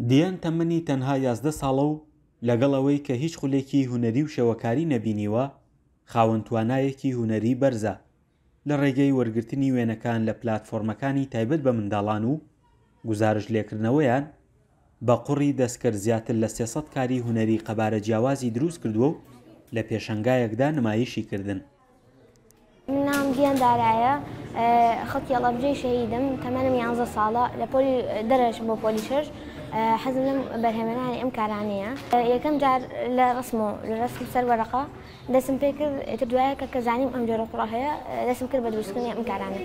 دیان تەمەنی تەنها یازدە ساڵە و لەگەڵ ئەوەی کە هیچ خولێکی هونەری و شێوەکاری نەبینیوە، خاوەن توانایەکی هونەری بەرزە، لە ڕێگەی وەرگرتنی وێنەکان لە پلاتفۆرمەکانی تایبەت بە منداڵان و گوزارشت لێکردنەوەیان، بە قوڕی دەستکرد زیاتر لە سێ سەد کاری هونەری قەبارە جیاوازی دروست کردووە و لە پێشەنگایەکدا نمایشی کردن. ناوم گیان دارایە خەڵکی ئەڵەبجەی شەهیدم تەمەنم یانزە ساڵە لە پۆلی دەرەشم بۆ پۆلی شەش حەزم لەم بەرهێمەرانی ئەم کارانەیە یەکەم جار لە ڕسم و لە ڕسم سەر وەرەقە دەسم پێ کرد ئێتر دوایە کە کەزانیم ئەم جۆرە کوڕە هەیە دەسم کرد بە دروستکردنی ئەم کارانە.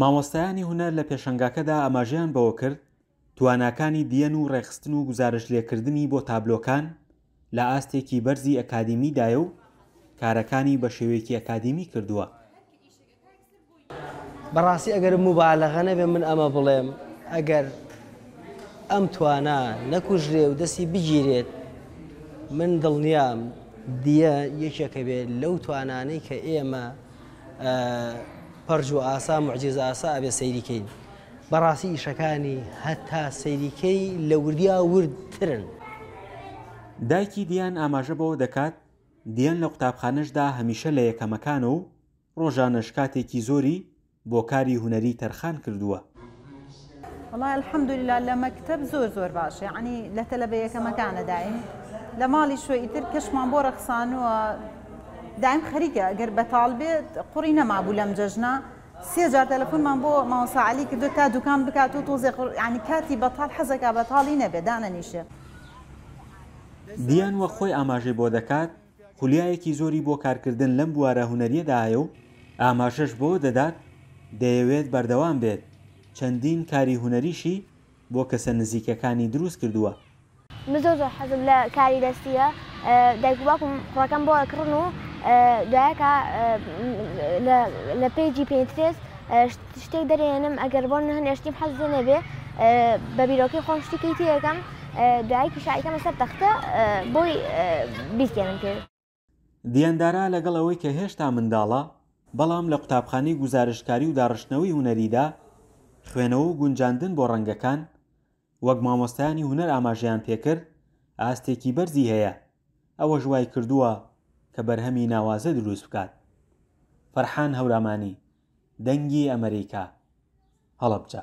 مامۆستایانی هونەر لە پێشەنگاکەدا ئاماژەیان بەوە کرد، تواناکانی دیەن و ڕێکخستن و گوزارش لێکردنی بۆ تابلۆکان لە ئاستێکی بەرزی ئەکادیمی دایە و کارەکانی بە شێوەیەکی ئەکادیمی کردووە. بەڕاستی ئەگەر موبالەغە نەبێ من ئەمە بڵێم ئەگەر ئەم توانا نەکوژرێ و دەستی بگیرێت من دڵنیام دیە یەکێکە بێت لەو توانانەی کە ئێمە پەرج و ئاسا معجزە ئاسا ئەبێ سەیریکەین بەڕاستی ئیشەکانی هەتا سەیری کەی لە وردیا ورد ترن. دایکی دیان ئاماژە بەوە دەکات، دیان لە قوتابخانەشدا هەمیشە لە یەکەمەکانە و ڕۆژانەش کاتێکی زۆری بۆ کاری هونەری تەرخان کردووە. وەڵای الحمدللە لە مەکتەب زۆر زۆر باشە یەعنی لە تەلەبە یەکەمەکانە دایم لە ماڵیش و ئیتر کەشمان بۆ ڕەخسانووە دایم خەریکە گەر بەتاڵ بێت قوڕی نەمابوو لەم جەژنە سێ جار تەلەفونمان بۆ مامۆستا عەلی کردوە تا دوکان بکات و تۆزێ قڕ یانی کاتی بەتاڵ حەزەکا بەتاڵی نەبێ دانەنیشێ. دیان وەک خۆی ئاماژەی بۆ دەکات، خولیایەکی زۆری بۆ کارکردن لەم بوارە هونەریەدا هەیە و ئاماژەش بەوە دەدات دەیەوێت بەردەوام بێت چەندین کاری هونەریشی، بۆ کەسە نزیکەکانی دروست کردووە. من زۆر زۆر حەزم لە کاری دەستیە دایک و باوکم کوڕەکەم بۆ ئەکڕن و دوایەکە لە پەیجی پینترێست شتێک دەرێنم ئەگەر بۆ نە هەنێ شتیم حەز لێ نەبێ بە بیرۆکەی خۆم شتێکی تێەکەم دوایەکیش ئایکەمە سەر تەختە بۆی بیستێنم پێ دیاندارا لەگەڵ ئەوەی کە هێشتا منداڵە، بەڵام لە قوتابخانەی گوزارشتکاری و داڕشتنەوەی هونەریدا خوێنەوە و گونجاندن بۆ ڕەنگەکان وەک مامۆستایانی هونەر ئاماژەیان پێکرد ئاستێکی بەرزی هەیە ئەوەش وایکردووە کە بەرهەمی ناوازە دروست بکات. فەرحان هەورامانی، دەنگی ئەمەریکا، هەڵەبجە.